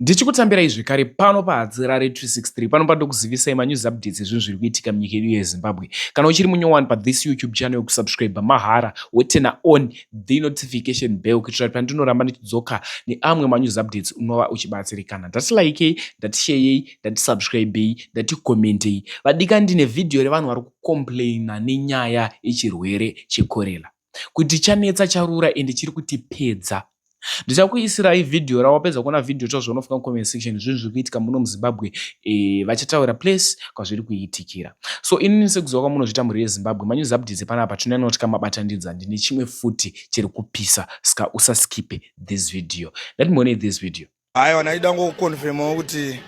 Ndichikutambirai zvekare pano paHadzirare 363 pano pandokuzivisai manews updates ezvinhu zviri kuitika munyika yedu yeZimbabwe. Kana uchiri munyowani pathis YouTube channel yokusubscribe mahara wotena on the notification bell kuitira kuti pandinoramba ndichidzoka neamwe manews updates unova uchibatsirikana. Ndati likei, ndati sheyei, ndati subscribei, ndati commentei. Vadika ndine vhidhiyo revanhu vari kucomplaina nenyaya yechirwere chekorela. kuti chanetsa charura ende chiri kuti pedza ndichakuisirai vhidhiyo ra wapedza kuona vhidhiyo chaizvo unofunga comment section zvinhu zviri kuitika muno muzimbabwe e, vachataura place kwazviri kuitikira so inini sekuziva kwamunozviita mhuri yezimbabwe manews updates panapa tinanotya mabatanidza ndine chimwe futi chiri kupisa ska usaskipe this video let me one this video Aiwa ndaida ngokukonfirmawo kuti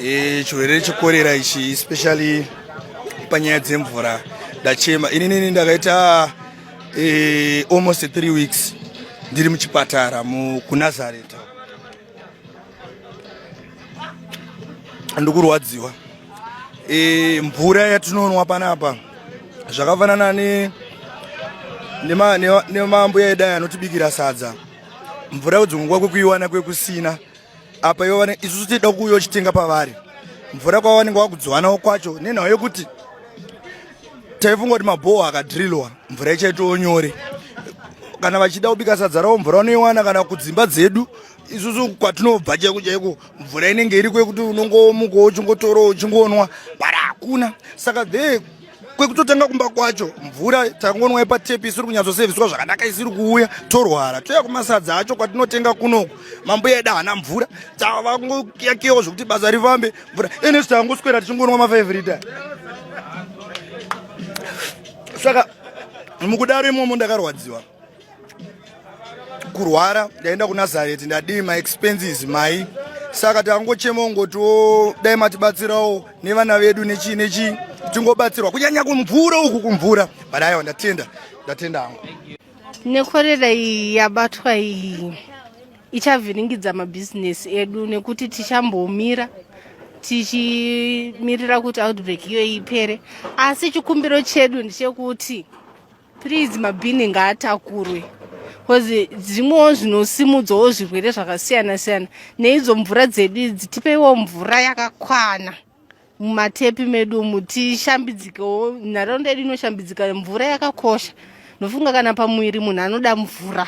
e, chirwere chekorera ichi especially panyaya dzemvura ndachema ininini ndakaita e, almost three weeks ndiri muchipatara kunazareta ndikurwadziwa e, mvura yatinonwa panapa zvakafanana nemambuya ne, ne, ne edu aya anotibikira sadza mvura yodzongwa kwekuiwana kwekusina apa ivo vane isusu tichida kuuya uchitenga pavari mvura kwavanenge wakudzwanawo kwacho nenhau yekuti taifunga kuti mabhoho akadrillwa mvura ichaitawo nyore kana vachida kubika sadza ravo mvura unoiwana kana kudzimba dzedu isusu kwatinobva chaiko chaiko mvura inenge iriko yekuti unongomuka uchingotorawo uchingonwa bara hakuna saka the kwekutotanga kumba kwacho mvura tangonwa yepatepi isiri kunyatsoseviswa zvakanaka isiri kuuya torwara toya kumasadza acho kwatinotenga kunoku mambuya edu haana mvura tava kungoyakiyawo zvekuti basa rifambe mvura inesu tangoswera tichingonwa mafive rita saka mukudaro imomo ndakarwadziwa kurwara ndaenda kunazareti ndadii maexpenses mai saka takangochema ungotiwo dai matibatsirawo nevana vedu nechii nechii tingobatsirwa kunyanya kumvura uku kumvura but aiwa ndatenda ndatenda hangu nekorera iyi yabatwa iyi ichavhiringidza mabhizinesi edu nekuti tichambomira tichimirira kuti outbreak iyoyi ipere asi chikumbiro chedu ndechekuti please mabhini ngaatakurwe bcause zvimwewo zvinosimudzawo zvirwere zvakasiyana siyana neidzo mvura dzedu idzi tipeiwo mvura yakakwana mumatepi medu umu tishambidzikewo nharaunda yedu inoshambidzika mvura yakakosha ndofunga kana pamuviri munhu anoda mvura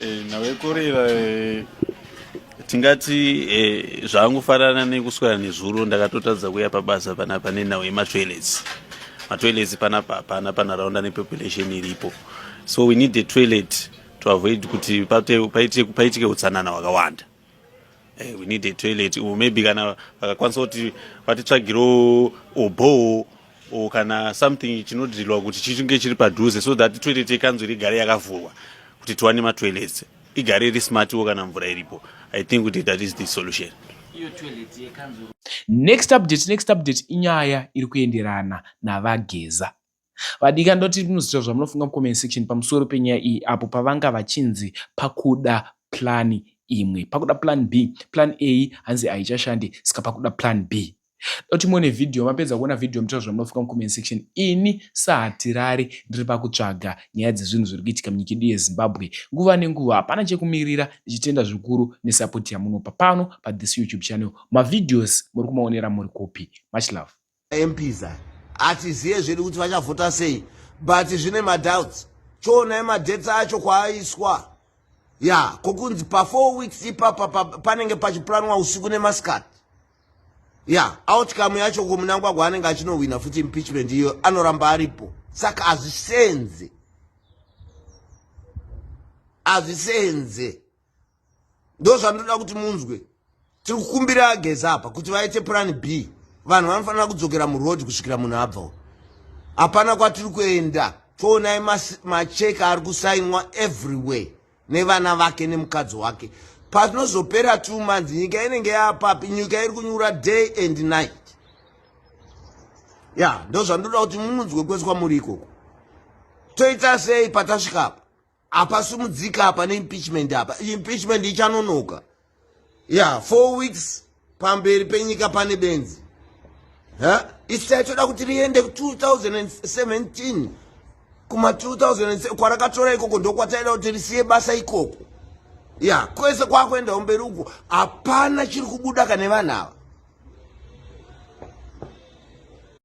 Eh, nawe kurira eh, tingati eh, zvaangofanana nekuswera nezuro ndakatotadza kuya pabasa panapa nenhau yematoilets matoilets panapa hapana panharaunda nepopulation iripo so we need a toilet to avoid kuti paitike utsanana hwakawanda Hey, eh, we need a toilet or maybe kana vakakwanisa kuti vatitsvagiro obowo or kana something chinodhirilwa kuti chichinge chiri padhuze so that toilet yekanzwi rigare yakavhurwa kuti tiwane matoilets igare iri smartiwo kana mvura iripo i think kuti that is the solution next update next update inyaya iri kuenderana navageza Vadika ndoti munoziva zvamunofunga mucomment section pamusoro penyaya iyi apo pavanga vachinzi pakuda plan imwe pakuda plan b plan a hanzi haichashande saka pakuda plan b doti muone vhidhiyo mapedza kuona vhidhiyo mutoa zvamunofunga mucomment section ini sahatirari ndiri pakutsvaga nyaya dzezvinhu zviri kuitika munyika yedu yezimbabwe nguva nenguva hapana chekumirira ndichitenda zvikuru nesapoti yamunopa pano pathis youtube channel mavhidhios muri kumaonera muri kupi much love mps aya hatizive zvedu kuti vachavhota sei but zvine madoubts choonai madebts acho kwaaiswa ya kokunzi pafour weeks ipapa panenge pachiplanwa usiku nemasikati ya outcome yacho kumunangwagwa anenge achinohwina futi impeachment iyo anoramba aripo saka hazvisenze hazvisenze ndozvandinoda kuti munzwe tiri kukumbira ageza apa kuti vaite plan b vanhu vanofanira kudzokera muroad kusvikira munhu abvawo hapana kwatiri kuenda toonai macheke ari kusainwa everywhere nevana vake nemukadzi wake patinozopera two months nyika inenge yapapi nyika iri kunyura day and night ya ndozvandoda kuti mununzwe kweswa muri ikoko toita sei patasvikapo apasumudzika apa neimpeachment apa impeachment ichanonoka ya four weeks pamberi penyika pane benzi isi taitoda kuti riende 2017 kuma 2000 kwarakatora ikoko ndokwataida kuti risiye basa ikoko ya kwese kwakuendawo mberi uko hapana chiri kubuda kane vanhu ava